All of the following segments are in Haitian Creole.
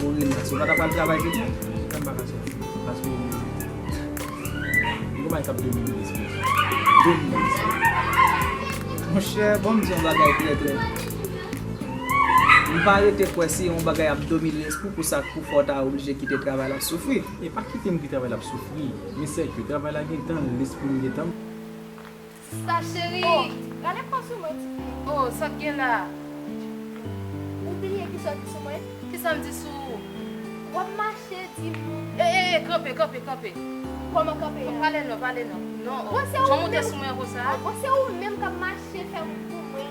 Bon Rena, si w pa ta pral travay jodi a, ou pral vaka sòti. Paske gen yon bagay k ap domine nan lespri m. Domine nan lespri m. Monchè, bon m di yon bagay klè klè. M pa rete kwè si yon bagay ap domine lespri w pou sa k pou fè w ta oblije kite travay la ap soufri. E pa kite m kite travay la ap soufri. Men sèke travay la gen tan l, lespri m gen tan l. Sa cheri. Oh gade kòw sou mwen ti fi. Oh sak gen la. Ou bliye kisaw di sou mwen. Kisam di sou ou. Wap mache di moun. Eh eh eh kanpe kanpe kanpe. Kòman kanpe a. Pale non pale non. Non oh. Bon se ou menm. Janm ou te sou mwen konsa. Bon se ou menm kap mache fè moun pou mwen.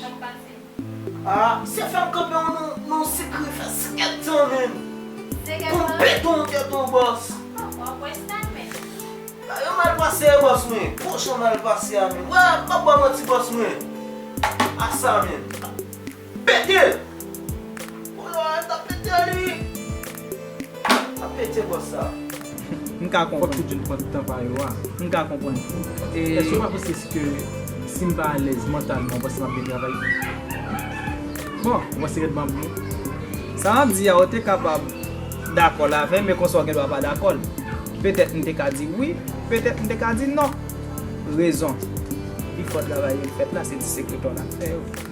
Sak pase? Ah se fèm kanpe w non non sikre fè 5 tan menm Kon beton tèt ou bòs. Bon wap wè sa menm. Bagay yo mal pase bòs mwen. Bon jan mal pase a menm. Wè map baw manti bòs mwen. Asa menm. Pete! Ou la a ta pete li. Sa pete bò sa. M ka konprann. Fòk tout jèn pran tan pa yo a. M ka konprann. Èske ou pa panse si ke si m pa alèz mantalman ou panse m ap byen travay? Bon, ou panse rèd m ap byen? Sa m ap di a ou te kapab dakò l avè m men konsa ou gen dwa pa dakò l. Petèt m te ka di wi, petèt m te ka di non. Rezon pi fò travay yo fèt la se ti sekretè w l ap fè yo.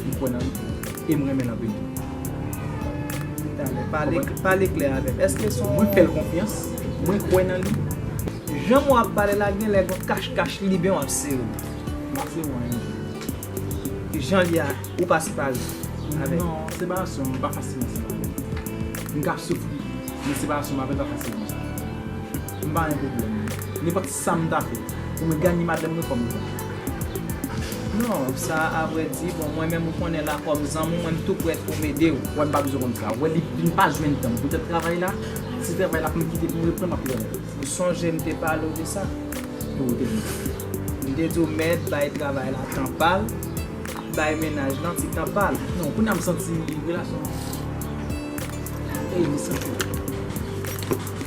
M kwè nan li e m renmen l anpil tou. Talè, pale klè avè m. Èske son. Mwen fè l konfyans, mwen kwè nan li. Jan mwen ap pale la genlè gon kach kach li libyen w ap sere m. M ap sere w anyen m di. Jan l ye a, ou pa separe w avè l. Non, separasyon m pa fasilman separe m. M ka soufri, men separasyon m avè l pa fasil konsa. M pa gen pwoblèm. Nenpòt. Sam ta fè pou mwen gagné madanm mwen kòm zanmi. Non sa avre di bon mwen menm ou konnen la kòm zanmou mwen m tou prèt poum edew. Wè m pa bezwen konn sa. Wè li vin pa jwenn tan poutèt travay la, si travay la fèm kite poum reprann map lwen l. Ou sonje m te pale w de sa? Ou te di m sa. M te di w mèd bay travay la tan pal, bay menaj lan ti tan pal. Non kounya m santi relasyon an. Ey m santi l.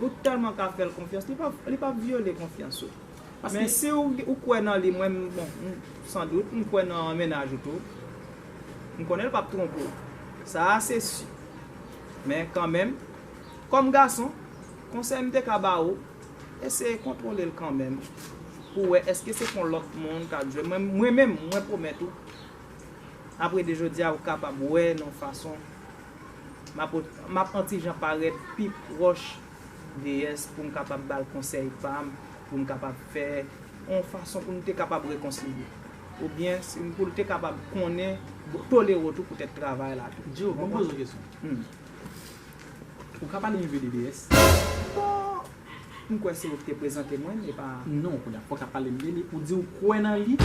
Ou telman ka fèl konfyans li pap vyole konfyans ou. Paske si ou kwè nan li mwen bon san dout m kwè nan mennaj ou tou. M konnen l pap twonpe w. Sa a se si. Men kanmenm kòm gason konsèy m te ka ba ou eseye kontwole l kanmenm pou wè eske se pon lòt moun kap jwe. Mwen menm mwen pwomèt ou apre de jodi a ou kapab wè nan fason M ap an ti jan parèt pi pwòch Deyès pou m kapab ba l konsèy pa m, pou m kapab fè yon fason pou nou te kapab rekonsilye. Oubyen pou l te kapab konnen, tolere w tou poutèt travay la tou. Djo, ban m poze w kesyon. Ou ka pale enpe de Deyès? Bon, m kwè se ou ki te prezante mwen l, e pa. Non, kounya, ou pa ka pale m de li. Ou di ou kwè nan li,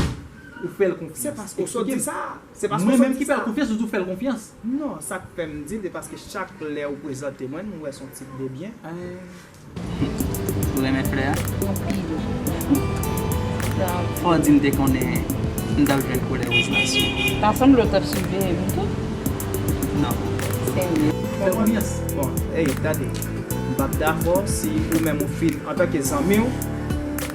ou fè l konfyans. Se paske w sot di sa a. Mwen menm ki fèl konfyans ou di ou fèl konfyans. Non sak fèm dil se paske chak lèw prezante mwen m wè son tip de byen. Humm ou renmen flè a? Anpil Fò w di m te konnen m tap jwenn koulè woz la sou ou. Ta sanble w tap siveye m tou? Non. Serye. Fèl konfyans. Bon ey gade m pap dakò si ou menm ou fin antanke zanmi w.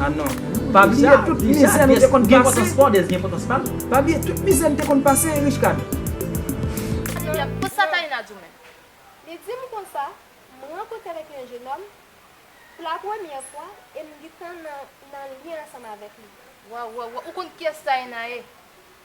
Ah non. Pa bliye tout mizè nou te konn pase. Pa bliye tout mizè nou te konn pase hein Richecad. Pou sa Taïna di w menm? Li di m konsa, M rankontre avèk yon jenòm pou la premyè fwa e m gintan nan lyen ansanm avèk li. Waw waw waw ou konn kiyès Taïna ye?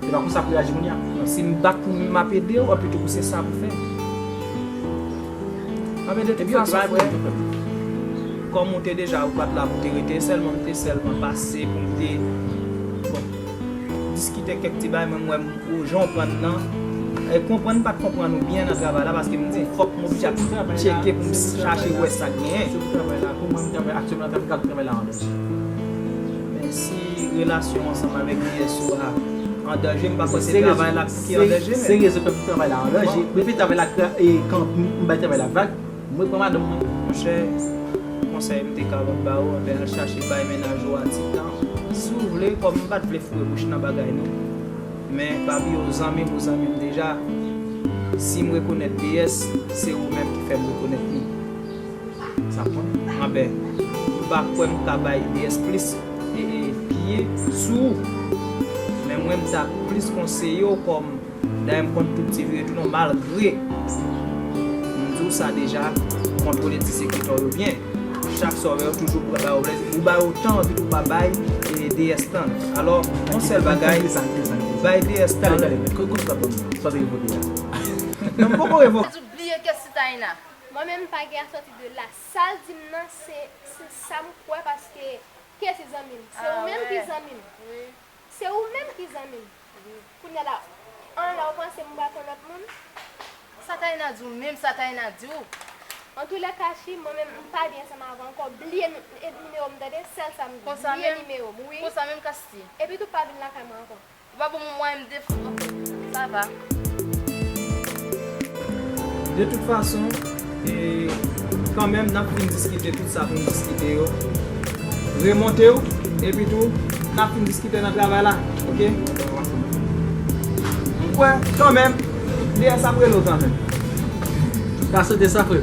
Se pa konsa pou reyaji kounya. Non si m bat pou m map ede w anpito pou se sa pou fè. Map ede w tout fason frè. Kòm ou te deja ou pat la pou te rete e sèlman m te sèlman pase pou m te bon diskite kèk ti bagay mwen m wè ou jan w pran n nan e konprann m pat konprann ou byen nan travay la paske m di fòk m oblije ap tcheke pou m chache wè sak genyen. Se pou travay la pou mwen m travay aktyèlman la m pral travay la anlè. Menm si relasyon ansanm avèk BSO a an danje m pa kwè se travay la ki an danje menm. Se rezon fè m di travay la an danje. Mwen vle travay la kan m bay travay la vag mwen pran madanm mwen. Monchè konsèy m te kapab ba ou anben al chache bay mennaj ou a ti tan si w vle kòm m pat vle foure bouch nan bagay nou men pa bliye w zanmi m ou zanmi m deja si m rekonèt BS se ou menm ki fè m rekonèt li. Sa bon anbè m pa kwè m ka bay Ilyes plis pye sou ou men mwen m ta plis konseye w kòm dayè m konn tout ti vire tounen w malgre m di w sa deja kontwole ti sekretè w yo byen chak sa w wè yo toujou pran bay w lè ou bay yo tan epi tou pa bay Ilyes tan l alò yon sèl bagay bay Ilyes tan l. Nan m poko revoke. Bliye kes ti Taïna. Mwen menm m pa gen a sòti de la. Sal dim nan se se sam kwè paske Kessy zanmim se ou menm ki zanmim se ou menm ki zanmim kounya la an la ou panse m pral pran lòt moun. Sa Taïna di w menm sa Taïna di w. Antoulèka chri mwen menm m pa byen ansanm avèw ankò bliye nimewo m tande sèl sa m di bliye nimewo m wi epitou pa vin lakay mwen ankò. Ou pa banm yon mwayen m defann ok sa va. De tout fason e kanmenm nap fin diskite tout sa poun diskite yo remontew epi tou nap fin diskite nan travay la ok m kwè kanmenm DS ap relew kanmenm pa sote sa frem.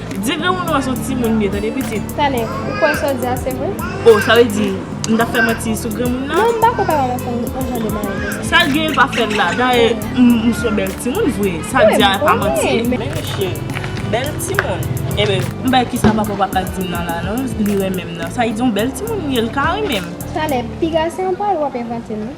Di granmoun ou a son timoun byen tande pitit. Tane, ou kwè sa w di a se vre? Oh, sa vle di, m t ap fè manti sou granmoun nan? Non, m pa kwè papa m ap fè m yon jan de bagay konsa. Sa l gen l pa fè l la. Dayè, m son bèl timoun vre. Sa l di a pa manti. Men li cheri. Bèl timoun. Enben, m bay kisa papa w pa ka di m nan la non, li renmen m nan. Sa vle di yon bèl timoun m ye, l ka renmen m. Tane, piga se yon pawòl w ap envante non.